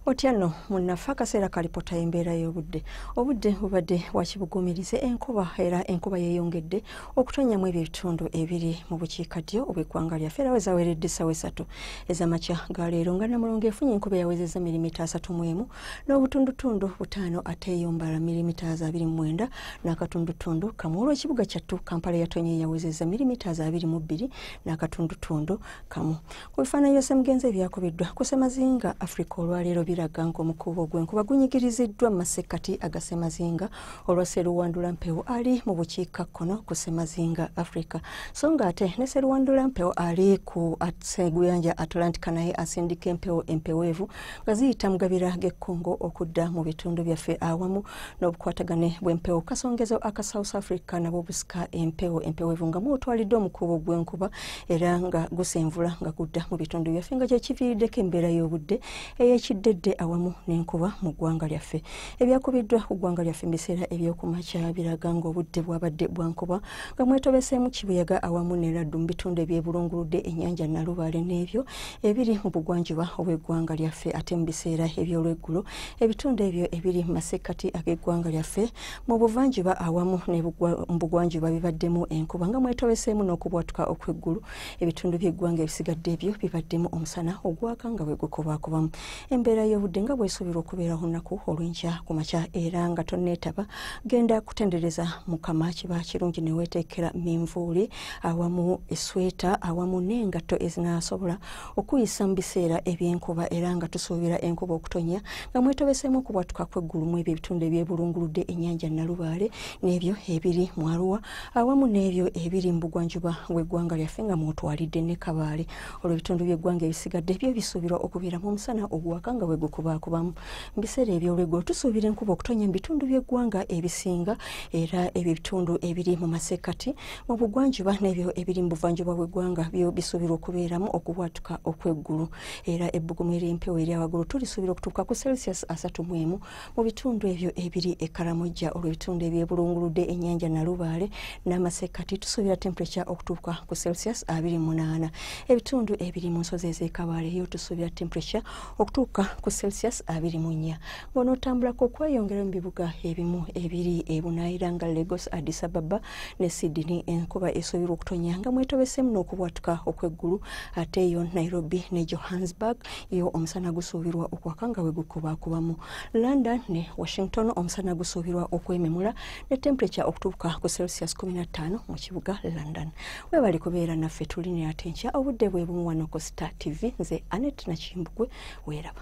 otya nno munnafe akaseera kalipota embeera y'obudde obudde bubadde wakibugumirize enkuba era enkuba yeeyongedde okutonyamu ebyo ebitundu ebiri mu bukiika ddyo obweggwanga lyaffe era wezaweredde essawa esatu ezamakya ga leero nga namulongo efunye enkuba eyawezezza mirimita asatu mu emu n'obutundutundu butaano ate eyombala mirimita za abiri mu mwenda n'akatundutundu kamu olw'ekibuga kyattu kampala yatonye eyawezezza mirimita za abiri mu bbiri n'akatundutundu kamu Mu bifaananyi bya Ssemugenzi ebyakubiddwa ku Ssemazinga Africa olwaleero biraga ng'omukuubo gw'enkuba gunyigiriziddwa mu masekkati aga Ssemazinga olwa Sseruwandula Mpewo ali mu bukiika kkono ku Ssemazinga Africa so ng'ate ne Sseruwandula Mpewo ali ku Seguyanja Atlantic naye asindika empewo empeweevu nga ziyita mu gabira g'e Congo okudda mu bitundu byaffe awamu n'obukwatagane bw'empewo kasongezo aka South Africa nabwo busika empewo empeweevu nga mwotwalidde omukuubo gw'enkuba era nga gusenvula nga gudda mu bitundu byaffe nga kyekiviiriddeko embeera y'obudde eyekiddedde awamu n'enkuba mu ggwanga lyaffe ebyakubiddwa ku ggwanga lyaffe mu biseera ebyokumakya biraga ng'obudde bwabadde bwankuba nga mwetobeseemu kibuyaga awamu neraddu mu bitundu ebyebulunguludde ennyanja nalubaale n'ebyo ebiri mu bugwanjuba obw'eggwanga lyaffe ate mu biseera ebyolweggulo ebitundu ebyo ebiri mu masekkati ag'eggwanga lyaffe mu buvanjuba awamu nebugwanjuba bibaddemu enkuba nga mwetobeseemu n'okubwatuka okw'eggulu ebitundu by'eggwanga ebisigadde ebyo bibaddemu omusana ogwaka nga bwe gukobakobamu embeera y'obudde nga bwesuubirwa okubeera olunaku olw'enkya ku makya era nga tonneetaba genda kutendereza mukama kiba kirungi neweeteekera minvuuli awamu esweta awamu n'engatto ezinaasobola okuyisa mu biseera ebyenkuba era nga tusuubira enkuba okutonya nga mwetobeseemu okubwatuka kweggulu mu ebyo ebitundu ebyebulunguludde ennyanja nalubaale n'ebyo ebiri mu aruwa awamu n'ebyo ebiri mu bugwanjuba bw'eggwanga lyaffe nga mwotwalidde ne kabaale olwo ebitundu by'eggwanga ebisigadde byo bisuubirwa okubeeramu omusana oguwaka nga bwe gukubaakubamu mu biseera eby'olweggulo tusuubira enkuba okutonya mu bitundu by'eggwanga ebisinga era ebyo ebitundu ebiri mu masekkati obugwanjuba n'ebyo ebiri mu buvanjuba bw'eggwanga byo bisuubirwa okubeeramu okubwatuka okw'eggulu era ebbugumu ery'empewo erya waggulu tulisuubira okutuuka ku celsius asatu mu emu mu bitundu ebyo ebiri e karamojja olw'ebitundu ebyebulunguludde ennyanja nalubaale n'amasekkati tusuubira temperature okutuuka ku celsius abiri munaana ebitundu ebiri mu nsozi ez'ekabaale yo tusuubira temperature okutuuka ku celsius abiri mu nnya ng'onootambulako okweyongera mu bibuga ebimu ebiri ebunaayira nga lagos addis ababa ne Sydney enkuba esuubirwa okutonya nga mwetobeseemu n'okubwatuka okw'eggulu ate eyo Nairobi ne Johannesburg yo omusana gusuubirwa okwaka nga bwe gukubakubamu London ne Washington omusana gusuubirwa okwememula ne temperature okutuuka ku Celsius 15 mu kibuga London webali kubeera naffe tuline ate nkya obudde bwe bumu wano ku Star TV nze Anet Nakimbugwe weeraba